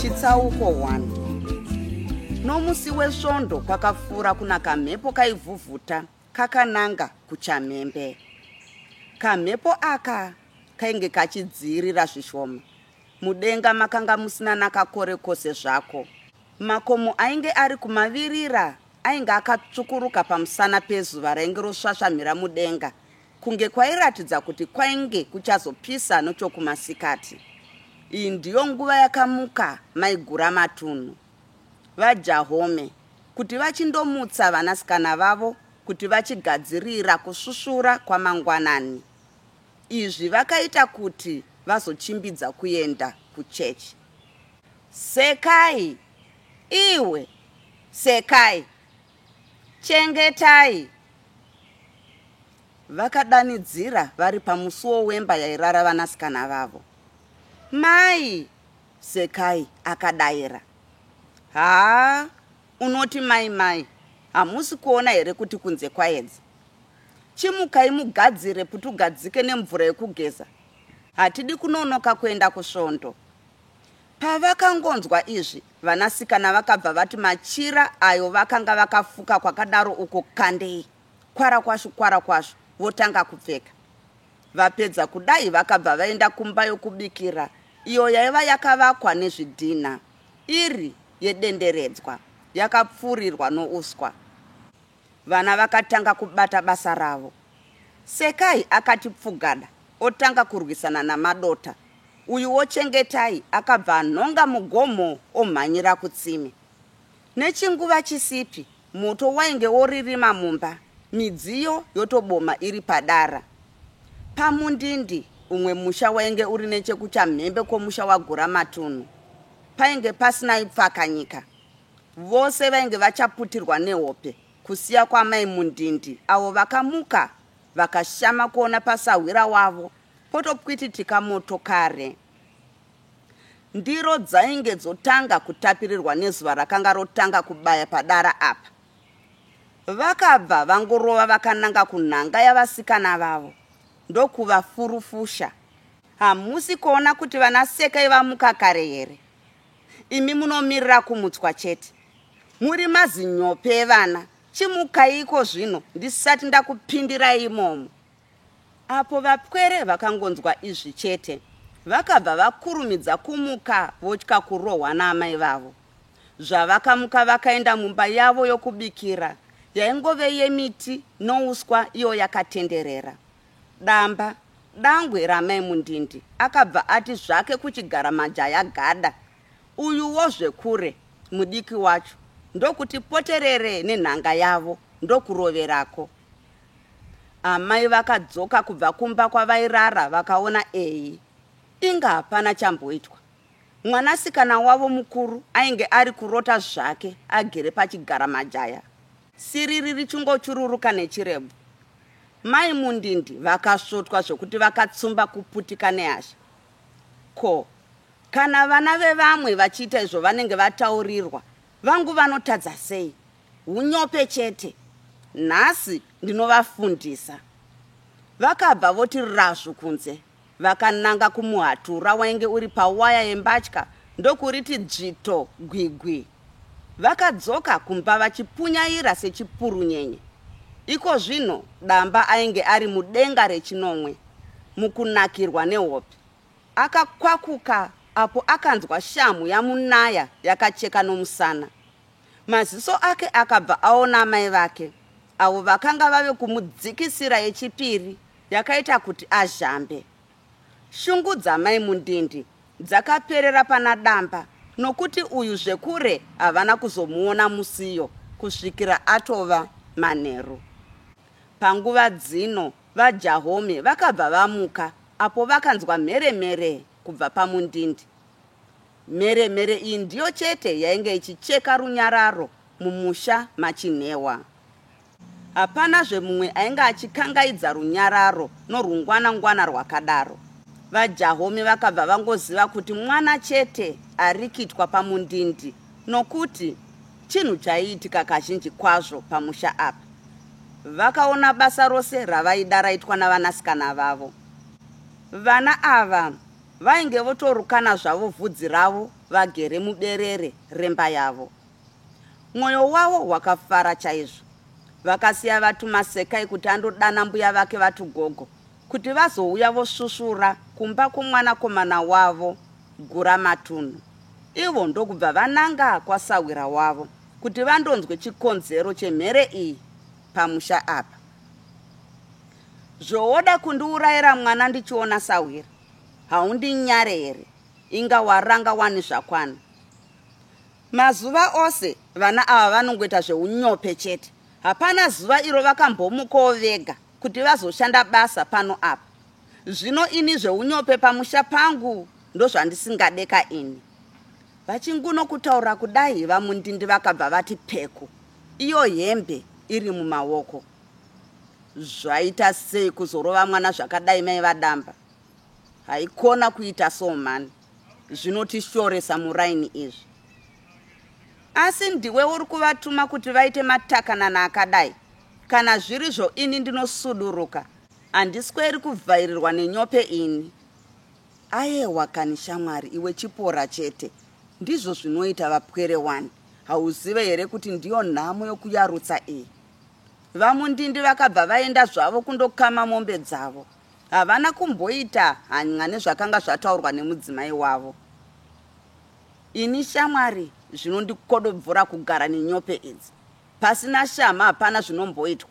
chitsauko 1 nomusi wesvondo kwakafura kuna kamhepo kaivhuvhuta kakananga kuchamhembe kamhepo aka kainge kachidziirira zvishoma mudenga makanga musina nakakore kose zvako makomo ainge ari kumavirira ainge akatsvukuruka pamusana pezuva rainge rosvasvamhira mudenga Kunge kwairatidza kuti kwainge kuchazopisa nochokumasikati. Iyi ndiyo nguva yakamuka maigura matunhu vaJahome kuti vachindomutsa vanasikana vavo kuti vachigadzirira kusvusvura kwamangwanani. Izvi vakaita kuti vazochimbidza kuenda kuchechi. Sekai! Iwe! Sekai! Chengetai! Vakadanidzira vari pamusuwo wemba yairara vanasikana vavo. Mai! Sekai akadaira. Haa, unoti mai mai, hamusi kuona here kuti kunze kwaedza? Chimukai mugadzire putugadzike nemvura yekugeza. Hatidi kunonoka kuenda kusvondo. Pavakangonzwa izvi, vanasikana vakabva vati machira ayo vakanga vakafuka kwakadaro uko kandei, kwara kwashu, kwara kwashu, votanga kupfeka. Vapedza kudai vakabva vaenda kumba yokubikira iyo yaiva yakavakwa nezvidhinha iri yedenderedzwa, yakapfurirwa nouswa. Vana vakatanga kubata basa ravo. Sekai akati pfugada otanga kurwisana naMadota uyuwo Chengetai akabva anhonga mugomo omhanyira kutsime. Nechinguva chisipi moto wainge woririma mumba midziyo yotoboma iri padara. Pamundindi umwe musha wainge uri nechekuchamhembe kwomusha waGuramatunhu. Painge pasina ipfakanyika. Vose vainge vachaputirwa nehope kusiya kwamai Mundindi avo vakamuka vakashama kuona pasahwira wavo potopwititika motokare. Ndiro dzainge dzotanga kutapirirwa nezuva rakanga rotanga kubaya padara apa. Vakabva vangorova vakananga kunhanga yavasikana vavo ndokuvafurufusha. Hamusi kuona kuti vana Sekai vamuka kare here? imi munomirira kumutswa chete muri mazinyope evana chimukaiko zvino ndisati ndakupindirai imomo apo vapwere vakangonzwa izvi chete vakabva vakurumidza kumuka votya kurohwa naamai vavo zvavakamuka vakaenda mumba yavo yokubikira yaingove yemiti nouswa iyo yakatenderera Damba dangwe ramai Mundindi akabva ati zvake kuchigara majaya gada uyuwo zvekure mudiki wacho ndokuti poterere nenhanga yavo ndokuroverako. Amai vakadzoka kubva kumba kwavairara vakaona eyi inga hapana chamboitwa. Mwanasikana wavo mukuru ainge ari kurota zvake agere pachigara majaya. Siriri richingochururuka nechirebvu. Mai Mundindi vakasvotwa zvekuti vakatsumba kuputika nehasha. Ko, kana vana vevamwe vachiita izvo vanenge vataurirwa, vangu vanotadza sei? Hunyope chete. Nhasi ndinovafundisa. Vakabva voti razvu kunze. Vakananga kumuhatura wainge uri pawaya yembatya ndokuriti dzvito gwigwi. Vakadzoka kumba vachipunyaira sechipurunyenye. Iko zvino Damba ainge ari mudenga rechinomwe mukunakirwa nehope. Akakwakuka apo akanzwa shamhu yamunaya yakacheka nomusana. Maziso ake akabva aona amai vake, avo vakanga vave kumudzikisira yechipiri yakaita kuti azhambe. Shungu dzamai Mundindi dzakaperera pana Damba nokuti uyu zvekure havana kuzomuona musiyo kusvikira atova manheru. Panguva dzino vaJahome vakabva vamuka apo vakanzwa mheremhere kubva paMundindi. Mheremhere iyi ndiyo chete yainge ichicheka runyararo mumusha machinhewa. Hapanazve mumwe ainge achikangaidza runyararo norwungwana-ngwana rwakadaro. VaJahome vakabva vangoziva kuti mwana chete arikitwa pamundindi nokuti chinhu chaiitika kazhinji kwazvo pamusha apa. Vakaona basa rose ravaida raitwa navanasikana vavo. Vana ava vainge votorukana zvavo vhudzi ravo vagere muberere remba yavo. Mwoyo wavo wakafara chaizvo. Vakasiya vatuma Sekai kuti andodana mbuya vake vatugogo kuti vazouya vosvusvura kumba kwomwanakomana wavo Guramatunhu. Ivo ndokubva vananga kwasahwira wavo kuti vandonzwe chikonzero chemhere iyi pamusha apa. Zvowoda kundiurayira mwana ndichiona sahwira? Haundinyare here? Inga waranga wani zvakwana. Mazuva ose vana ava vanongoita zveunyope chete. Hapana zuva iro vakambomukawo vega kuti vazoshanda basa pano apa. Zvino ini zveunyope pamusha pangu ndozvandisingade ka ini. Vachinguno kutaura kudai vamundindi vakabva vati peku. Iyo hembe iri mumaoko. Zvaita sei kuzorova mwana zvakadai mai vadamba. Haikona kuita so mhani. zvinotishoresa muraini izvi asi ndiwe uri kuvatuma kuti vaite matakanana akadai kana zvirizvo ini ndinosuduruka handisweri kuvhairirwa nenyope ini ayewa kani shamwari iwe chipora chete ndizvo zvinoita vapwere wani hauzive here kuti ndiyo nhamo yokuyarutsa iyi vamundindi vakabva vaenda zvavo kundokama mombe dzavo Havana kumboita hany'a nezvakanga zvataurwa nemudzimai wavo. Ini shamwari zvinondikodobvora kugara nenyope idzi. Pasina shama hapana zvinomboitwa.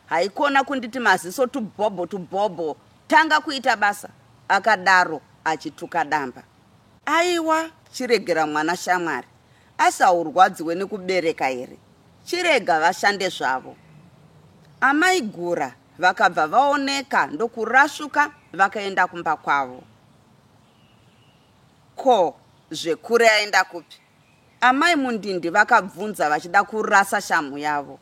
Haikona kunditi maziso tubhobho tubhobho tanga kuita basa, akadaro achituka damba. Aiwa, chiregera mwana shamwari. Asi haurwadziwe nekubereka here? Chirega vashande zvavo. Amai Gura Vakabva vaoneka ndokurasvuka vakaenda kumba kwavo. Ko zvekure aenda kupi? Amai Mundindi vakabvunza vachida kurasa shamhu yavo.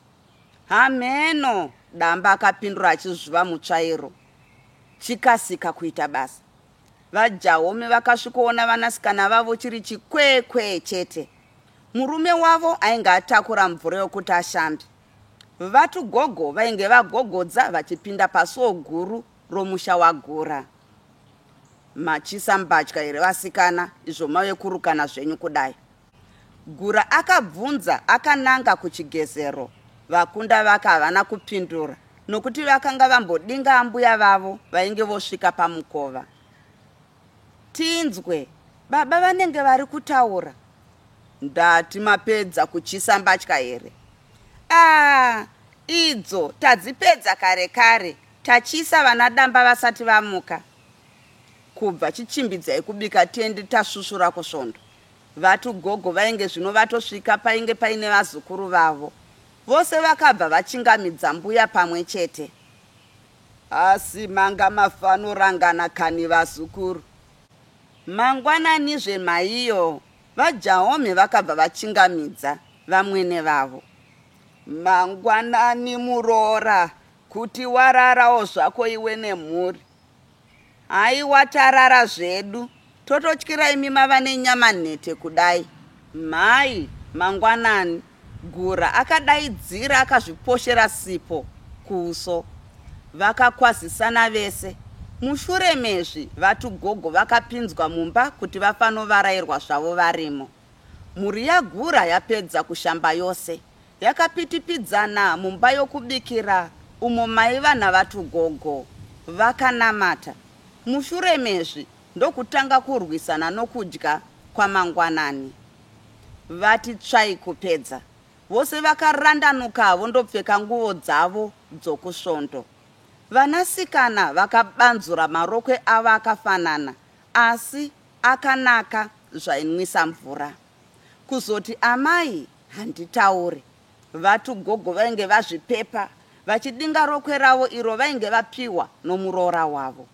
Hameno, Damba akapindura achizvuva mutsvairo. Chikasika kuita basa. VaJaome vakasvikoona vanasikana vavo chiri chikwekwe chete. Murume wavo ainge atakura mvura yokuti ashambe. Vatu gogo vainge vagogodza vachipinda pasuo guru romusha waGura. Machisa mbatya here vasikana izvo mave kurukana zvenyu kudai? Gura akabvunza akananga kuchigezero. Vakunda vake havana kupindura nokuti vakanga vambodinga ambuya vavo vainge vosvika pamukova. Tinzwe baba vanenge vari kutaura. Ndati mapedza kuchisa mbatya here? Ah, idzo tadzipedza kare kare tachisa vana damba vasati vamuka kubva chichimbidzai kubika tiende tasvusvura kusvondo vati gogo vainge zvino vatosvika painge paine vazukuru vavo vose vakabva vachingamidza mbuya pamwe chete Asi manga mafanorangana kani vazukuru. Mangwananizve maiyo vaJaomhe vakabva vachingamidza vamwene vavo. Mangwanani muroora kuti wararawo zvako iwe nemhuri. Haiwa tarara zvedu. Tototyira imi mava nenyama nhete kudai. Mhai, mangwanani, Gura akadaidzira akazviposhera sipo kuuso. Vakakwazisana vese. Mushure mezvi vatu gogo vakapinzwa mumba kuti vafanovarairwa zvavo varimo. Mhuri yaGura yapedza kushamba yose, yakapitipidzana mumba yokubikira umo maiva naVaTugogo. Vakanamata, mushure mezvi ndokutanga kurwisana nokudya kwamangwanani. Vati tsvai kupedza, vose vakarandanuka vondopfeka nguvo dzavo dzokusvondo. Vanasikana vakabanzura marokwe avo akafanana Asi akanaka zvainwisa mvura. Kuzoti amai handitaure. Vatu gogo vainge vazvipepa vachidinga rokwe ravo iro vainge vapihwa nomuroora wavo.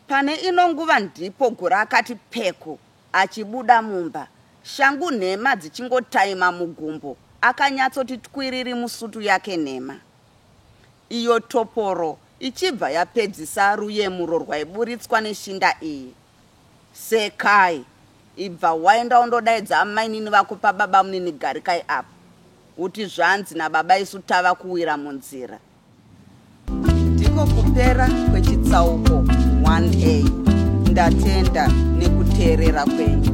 Pane ino nguva ndipo Gura akati peku achibuda mumba shangu nhema dzichingotaima mugumbo akanyatsoti twiriri musutu yake nhema. Iyo toporo ichibva yapedzisa ruyemuro rwaiburitswa neshinda iyi. Sekai. Ibva waenda undodaidza amainini vako pababamunini Garikai apo. Uti zvanzi nababa isu tava kuwira munzira. Ndiko kupera kwechitsauko 1A. Ndatenda nekuteerera kwenyu.